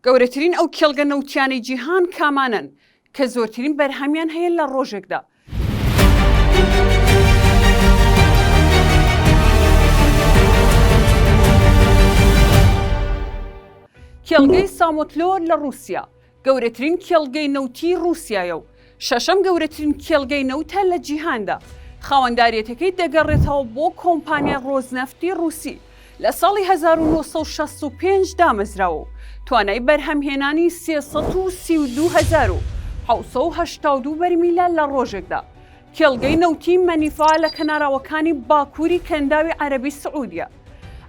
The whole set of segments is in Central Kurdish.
گەورەترین ئەو کێڵگە نەوتییانەی جیهان کامانەن کە زۆرترین بەرهەمیان هەیە لە ڕۆژێکدا؟ کێڵگەی سامۆتلۆر لە ڕووسیا، گەورەترین کێڵگەی نەوتیی ڕووسیایە و شەشەم گەورەترین کێڵگەی نەوتە لە جیهاندا، خاوەنداریەتەکەی دەگەڕێتەوە بۆ کۆمپانیای ڕۆزنەفتی ڕووسی، لە ساڵی هەزار و نۆ سەد و شەست و پێنج دامەزراوە و توانای بەرهەمهێنانی سێ سەد و سی و دوو هەزار و حەوت سەد و هەشتا و دوو بەرمیلە لە ڕۆژێکدا. کێڵگەی نەوتی مەنیفا لە کەناراوەکانی باکووری کەنداوی عەرەبی سعودیە.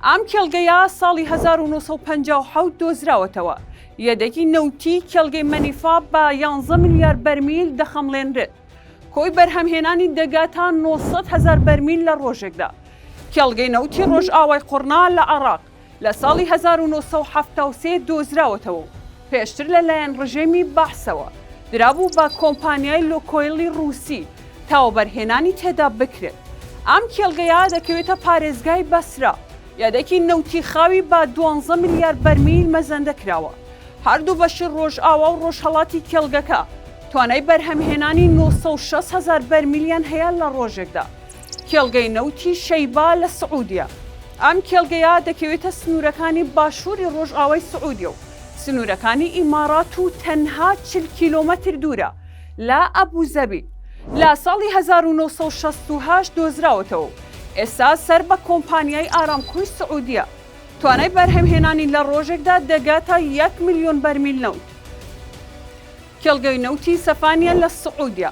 ئەم کێڵگەیە ساڵی هەزار و نۆ سەد و پەنجا و حەوت دۆزراوەتەوە. یەدەگی نەوتیی کێڵگەی مەنیفا بە یانزە ملیار بەرمیل دەخەمڵێنرێت. کۆی بەرهەمهێنانی دەگاتە نۆ سەد هەزار بەرمیل لە ڕۆژێکدا. کێڵگەی نەوتی ڕۆژئاوای قوڕنا لە عێراق لە ساڵی هەزار و نۆ سەد و حەفتا و سێ دۆزراوەتەوە و، پێشتر لە لایەن ڕژێمی بەعسەوە درابوو بە کۆمپانیای لوکۆیڵی ڕووسی تا وەبەرهێنانی تێدا بکرێت. ئەم کێڵگەیە دەکەوێتە پارێزگای بەسرە. یەدەکی نەوتی خاوی بە دوانزە ملیار بەرمیل مەزەندە کراوە. هەردوو بەشی ڕۆژئاوا و ڕۆژهەڵاتی کێڵگەکە توانای بەرهەمهێنانی نۆ سەد و شەست هەزار بەرمیلیان هەیە لە ڕۆژێکدا. کێڵگەی نەوتی شەیبا لە سعودیە. ئەم کێڵگەیە دەکەوێتە سنوورەکانی باشووری ڕۆژئاوای سعودیە و سنوورەکانی ئیماڕات و تەنها چل کیلۆمەتر دوورە لە ئەبوزەبی، لە ساڵی هەزار و نۆ سەد و شەست و هەشت دۆزراوەتەوە و ئێستا سەر بە کۆمپانیای ئارامکۆی سعودیە، توانای بەرهەمهێنانی لە ڕۆژێکدا دەگاتە یەک ملیۆن بەرمیل نەوت. کێڵگەی نەوتی سەفانیە لە سعودیە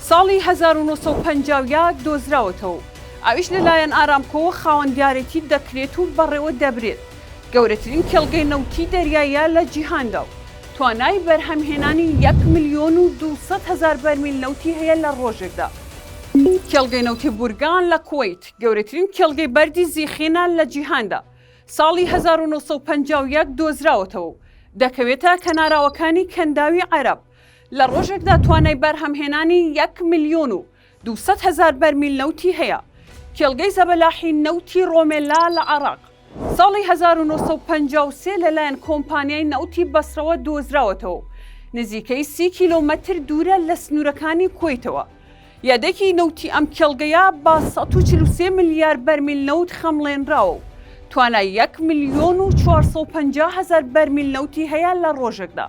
ساڵی هەزار و نۆ سەد و پەنجا و یەک دۆزراوەتەوە و ئەویش لەلایەن ئارامکۆوە خاوەندیارێتی دەکرێت و بەڕێوە دەبرێت، گەورەترین کێڵگەی نەوتی دەریاییە لە جیهاندا و توانای بەرهەمهێنانی یەک ملیۆن و دوو سەد هەزار بەرمیل نەوتی هەیە لە ڕۆژێکدا. کێڵگەی نەوتی بورگان لە کوەیت، گەورەترین کێڵگەی بەردی زیخینە لە جیهاندا، ساڵی هەزار و نۆ سەد و پەنجا و یەک دۆزراوەتەوە و دەکەوێتە کەناراوەکانی کەنداوی عەرەب، لە ڕۆژێکدا توانای بەرهەمهێنانی یەک ملیۆن و دوو سەد هەزار بەرمیل نەوتی هەیە. کێڵگەی زەبەلاحی نەوتی ڕۆمێلا لە عێراق، ساڵی هەزار و نۆ سەد و پەنجا و سێ لەلایەن کۆمپانیای نەوتی بەسڕەوە دۆزراوەتەوە و نزیکەی سی کیلۆمەتر دوورە لە سنوورەکانی کوەیتەوە، یەدەکی نەوتی ئەم کێڵگەیە بە سەد و چل و سێ ملیار بەرمیل نەوت خەمڵێنراوە و توانای یەک ملیۆن و چوار سەد و پەنجا هەزار بەرمیل نەوتی هەیە لە ڕۆژێکدا.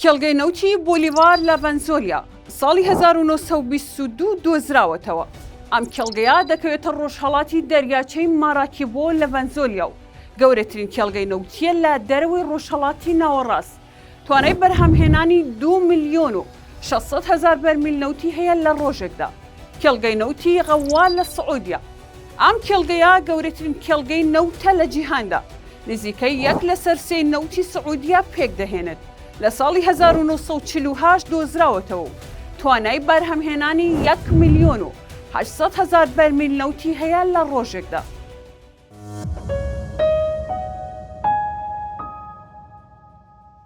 کێڵگەی نەوتی بۆلیڤار لە ڤەنزۆلیا ساڵی هەزار و نۆ سەد و بیست و دوو دۆزراوەتەوە، ئەم کێڵگەیە دەکەوێتە ڕۆژهەڵاتی دەریاچەی ماراکیبۆ لە ڤەنزۆلیا و گەورەترین کێڵگەی نەوتییە لە دەرەوەی ڕۆژهەڵاتی ناوەڕاست. توانای بەرهەمهێنانی دوو ملیۆن و شەش سەد هەزار بەرمیل نەوتی هەیە لە ڕۆژێکدا. کێڵگەی نەوتی غەووار لە سعودیە، ئەم کێڵگەیە گەورەترین کێڵگەی نەوتە لە جیهاندا، نزیکەی یەک لەسەر سێی نەوتی سعودیە پێکدەهێنێت، لە ساڵی هەزار و نۆ سەد و چل و هەشت دۆزراوەتەوە و توانای بەرهەمهێنانی یەک ملیۆن و هەشت سەد هەزار بەرمیل نەوتی هەیە لە ڕۆژێکدا.